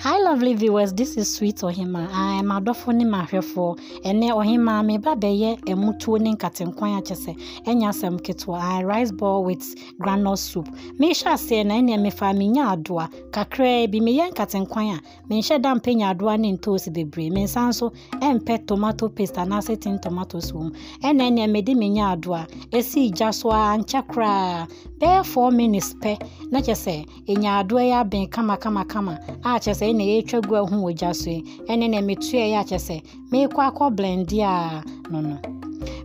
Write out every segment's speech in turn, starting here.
Hi lovely viewers, this is Sweet Ohima. I am Adofo ne mahwɛfoɔ. Ɛnɛ Ohima meba bɛyɛ ɛmutuo ne nkatenkwan akyɛ sɛ ɛnyɛ asɛm ketewa. I rice ball with granule soup. Mehyɛ aseɛ na ɛnɛ mefa menya adoa kakraa bi meyɛ nkatenkwan a Menhyɛ da mpɛ nyaadoa ne ntoosi bebree. Mensan nso mpɛ tomato paste anaasɛ tin tomatoes wɔ mu. Ɛna ɛneɛ mede me nyaadoa ɛsii gya so a ankyɛ koraa bɛyɛ four minutes pɛ na kyɛ sɛ nyaadoa yi abɛn kama kama kama a kyɛ sɛ ɛna ɛretwa gu ahu wɔ gya so yi. Ɛna ɛneɛ metuaeɛ a kyɛ sɛ meekɔ akɔ blɛnde a no no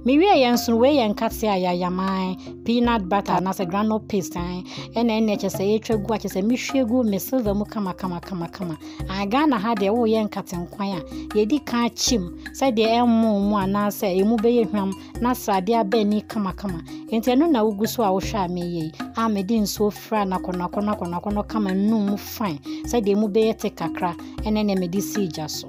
mewie yɛ nso wei yɛ nkate a yɛayaman peanut butter anaasɛ granol paste an ɛna ɛna ɛkyɛ sɛ yɛtwa gu akyɛ sɛ mehwie gu me silver mu kama kama kama kama an ghana ha deɛ woyɛ nkate nkwan a yɛdi kan kyim sɛdeɛ ɛmmo mu anaasɛ ɛmu bɛyɛ hwam na sradeɛ aba ani kamakama nti ɛno na wogu so a wohwɛ a meyɛ yi a mede nsuo fira nakɔnakɔnakɔnakɔnɔ kama num mu fine sɛdeɛ mu bɛyɛ te kakra ɛne nea mede si gya so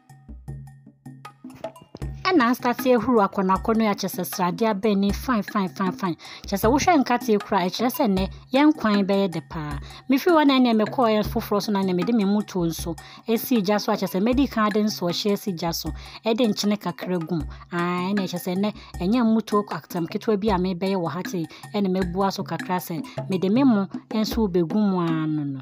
Ɛna asase ahuru akɔnɔakɔnɔ a kyerɛ sɛ sradeɛ abɛn ne fine fine fine fine kyerɛ sɛ wohwɛ nkateɛ kura a ɛkyerɛ sɛ nnɛ yɛn kwan bɛyɛ dɛ paa mefiri hɔ na ɛnna mekɔɔ yɛn foforɔ so na ɛnna mede me motuo nso ɛsi gya so a kyerɛ sɛ mɛdi kan de nso ɔhyɛ asi gya so ɛde nkyene kakra gum aa ɛnna ɛkyɛ sɛ nnɛ ɛnyɛ motuo atam ketewa bi a mebɛyɛ wɔ ha te ɛnna mɛbua so kakra sɛ mede me mo nso bɛgu mu ano no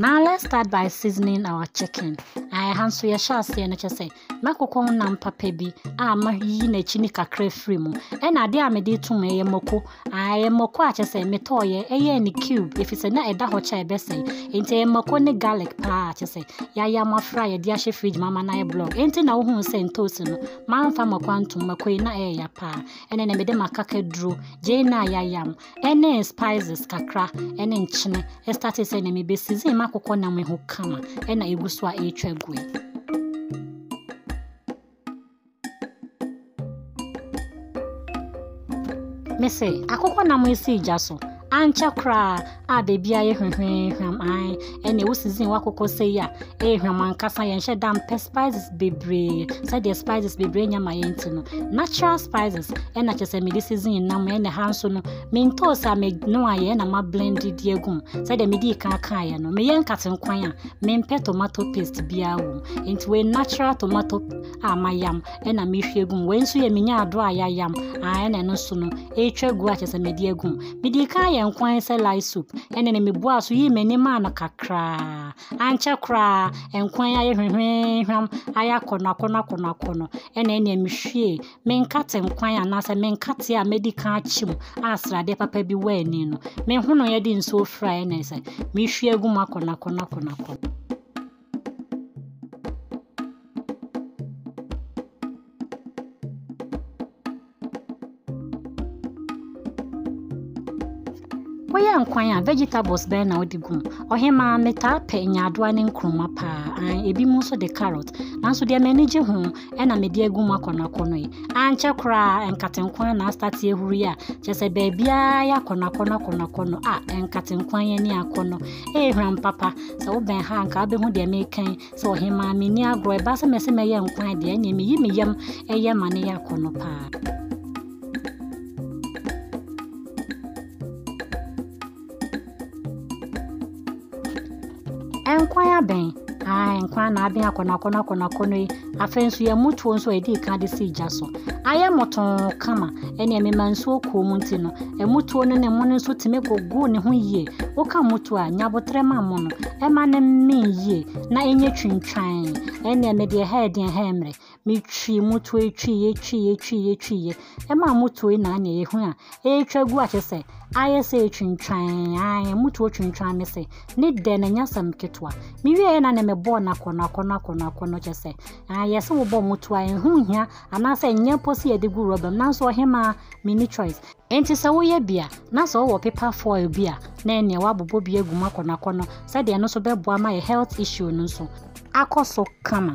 Now let's start by seasoning our chicken. Ɛha nso yɛhyɛ aseɛ no kyɛ sɛ mɛkokɔ ho nam papa bi a mayiyi n'akyi ne kakra firi mu ɛna adeɛ a mede tom ɛyɛ mako ɛyɛ mako a kyɛ sɛ metɔɔyɛ ɛyɛ ne cube ɛfiri sɛ na ɛda hɔ kyɛ ɛbɛsɛe nti ɛyɛ mako ne garlic paa kyɛ sɛ yɛayɛ ama fra yɛde ahyɛ fridge ma ama no ayɛ block ɛnti na wohuu sɛ ntoosi no mamfa mako antom mako yi na ɛyɛ ya paa ɛne na mede m'akakaduro, gyeene a yɛayam, ɛne spices kakra, ɛne nkyene, ɛstate sɛ na mebɛsizin m'akokɔ nam yi ho kama, ɛna ɛgu so a ɛretwa gu yi. Mese, akokɔ nam yi si gya so, ankyɛ koraa, a beebi ayɛ hwehwɛɛhwam ae ɛne wo season wakokɔ sɛ yi a ɛyɛ hwam ankasa yɛnhyɛ da mpɛ spices bebree sɛdeɛ spices bebree nya ma yɛn ti no natural spices ɛna kyɛ sɛ mede season nam ɛna ha nso no mentɔɔ sɛ meno ayɛ ɛna ma blend di agum sɛdeɛ mede kan kaeɛ no meyɛ nkate nkwan a mempɛ tomato paste biara wɔ mu nti wei natural tomato a mayam na mehwie agu mu. Wei nso yɛ menya adoro a yɛayam a na ɛno nso no ɛretwa agu a kyerɛ sɛ mede agu mu. Mede kan yɛ nkwan sɛ lai soup ɛne no meboa so yii m'ani maa no kakraa. Ankyɛ koraa nkwan ayɛ hwehwehwam ayɛ akɔnɔ akɔnɔ akɔnɔ akɔnɔ ɛna ɛnea mehwie menkate nkwan anaasɛ menkate a medi kan akyi mu a sradeɛ papa bi wɔ ani no. Mehono yɛ de nsuo fira ɛna sɛ mehwie agu mu akɔnɔ akɔnɔ akɔnɔ akɔnɔ. Woyɛ nkwan a vegetables bɛn na wode gum? Ɔhemaa metaa pɛ nyaadoa ne nkruma paa, an ebinom nso de carrot. Nanso deɛ m'ani gye ho ɛna mede agu mu akɔ no akɔ no yi ankyɛ koraa nkate nko ara na astate ahuru yi a kyɛ sɛ baabiara yɛ akɔ no akɔ no akɔ no akɔ no a nkate nko ara yɛn ani akɔ no ɛyɛ hwam papa sɛ wobɛn ha nka wobɛhu deɛ mekan sɛ ɔhemaa menni agorɔ ɛba sɛ mɛsɛ mɛyɛ nkwan deɛ ɛneɛ meyi me yam ɛyɛ ma ne yɛ akɔ no paa Nkwan abɛn. Ae, nkwan na abɛn akɔnɔakɔnɔ akɔnɔakɔnɔ yi. Afei nso yɛn mutuo nso a yɛdii kan de si gya so. Ayɛ motɔn kama. Ɛne ɛmema nsuo kuo mu nti no, ɛmutuo no ne mono nso tumi gugu ne ho yie. Woka mutuo a, nyabotrɛ ma mono. Ɛma no mmee yie na ɛnyɛ twintwan. Ɛne ɛmɛ deɛ ɛha ɛdeɛ ɛha ɛmmerɛ. metwii mu toa twiiɛ twiiɛ twiiɛ twiiɛ ɛma mo toa yi naa neɛ yɛhu a ɛretwa gu akyɛ sɛ ayɛ sɛ ɛtwintwan ae mo toa twintwan me sɛ ne dɛ na ɛnyɛ asɛm ketewa mewie yɛ na ne mebɔɔ no akɔnɔ akɔnɔ akɔnɔ akɔnɔ kyɛ sɛ ayɛ sɛ wobɔ mo toa ɛho hia anaasɛ ɛnyɛ mpo sɛ yɛde gu rɔba mu nanso ɔhemaa menni choice Enti sɛ woyɛ bi a na sɛ wowɔ paper foil bi a na ɛneɛ woabobɔ bi agu mu akɔnɔ akɔnɔ sɛdeɛ ɛno nso bɛboa ma yɛ health issue no nso akɔ so kama.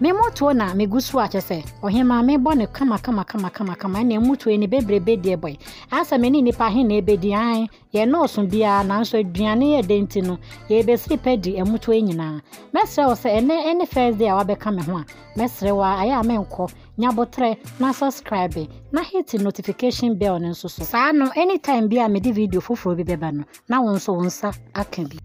Me motoɔ na me gu so a kyɛ sɛ ɔhemaa me bɔ no kama kama kama kama kama ɛna mmutuo ne bebrebe deɛ bɔe asɛ me ne nipa he na ɛbɛdi an yɛ nɔɔso biara nanso aduane yɛ dɛ nti no yɛbɛsiri pɛ di mmutuo nyinaa mɛsrɛ wo sɛ ɛnɛ ɛne first day a wabɛka me ho a mɛsrɛ wo a ayɛ a menkɔ nyabotrɛ na subscribe na hit notification bell no nso so saa no anytime bi a mede video foforɔ bi bɛba no na wo nso wo nsa aka bi.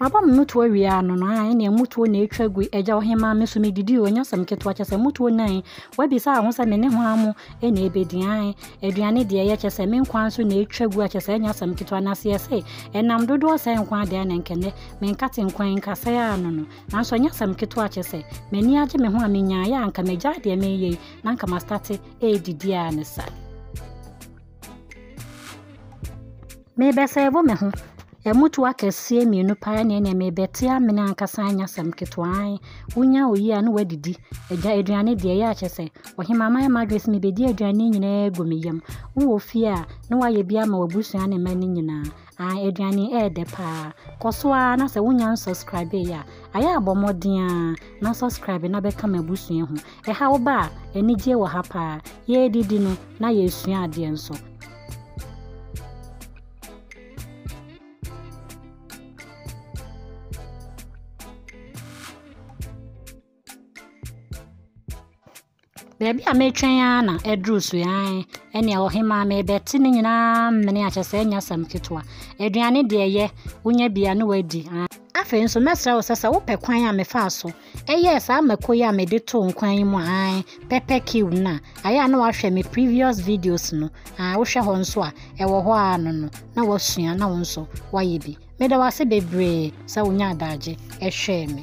Maba me mutuo wie ano no a ɛnea mutuo na ɛtwa gu agya ɔhemaa me so me didi o nyasɛm ketewa kyɛ sɛ mutuo nan wabisa ho sɛ me ne ho amo ɛna ɛbɛdi an aduane deɛ ɛyɛ kyɛ sɛ me nkwa nso na ɛtwa gu akyɛ sɛ nyasɛm ketewa na seɛ se ɛnam dodoɔ sɛ nkwa adeɛ na nkɛnɛ me nkate nkwan nkasɛ a no no nanso nyasɛm ketewa kyɛ sɛ m'ani agye me ho a menyaeɛ a nka magya deɛ meyɛ na nka mastate redidi ara ne sa. Merebɛsɛɛvo me ho. Ɛmutu akɛseɛ mmienu paa ne ɛnɛ merebɛte amene ankasa anya sɛm ketewaa. Wonya oyi a na wadidi. Agya aduane deɛ ɛyɛ akyɛ sɛ. Ɔhema ma yɛ madwene sɛ mebɛdi aduane nyinaa gu me yam. Wowɔ fie a na wayɛ bi ama w'abusua ne mma no nyinaa. Ah aduane yi ɛyɛ dɛ paa. Kɔ so ara na sɛ wonya nsubscribe yɛ a, ayɛ a bɔ mmɔden ara na subscribe na bɛka m'abusua ho. Ɛha wo ba a, anigye wɔ ha paa. Yɛredidi no na yɛresua adeɛ nso. Baabi a metwɛn ara na aduru so yi ae ɛnea ɔhemaa mebɛte ne nyinaa mmene akyɛ sɛ ɛnyɛ asɛm ketewa aduane deɛ ɛyɛ wonya bi a ne wadi ae afei nso mɛsrɛ wo sɛ sɛ wopɛ kwan a mefaa so ɛyɛɛ saa mako yi a mede too nkwan yi mu ae pɛpɛ kiw no a ayɛ a na wahwɛ me previous videos no a wohwɛ hɔ nso a ɛwɔ hɔ a no no na wasua na wo nso wayɛ bi meda wo ase bebree sɛ wonya adagye ɛhwɛɛ me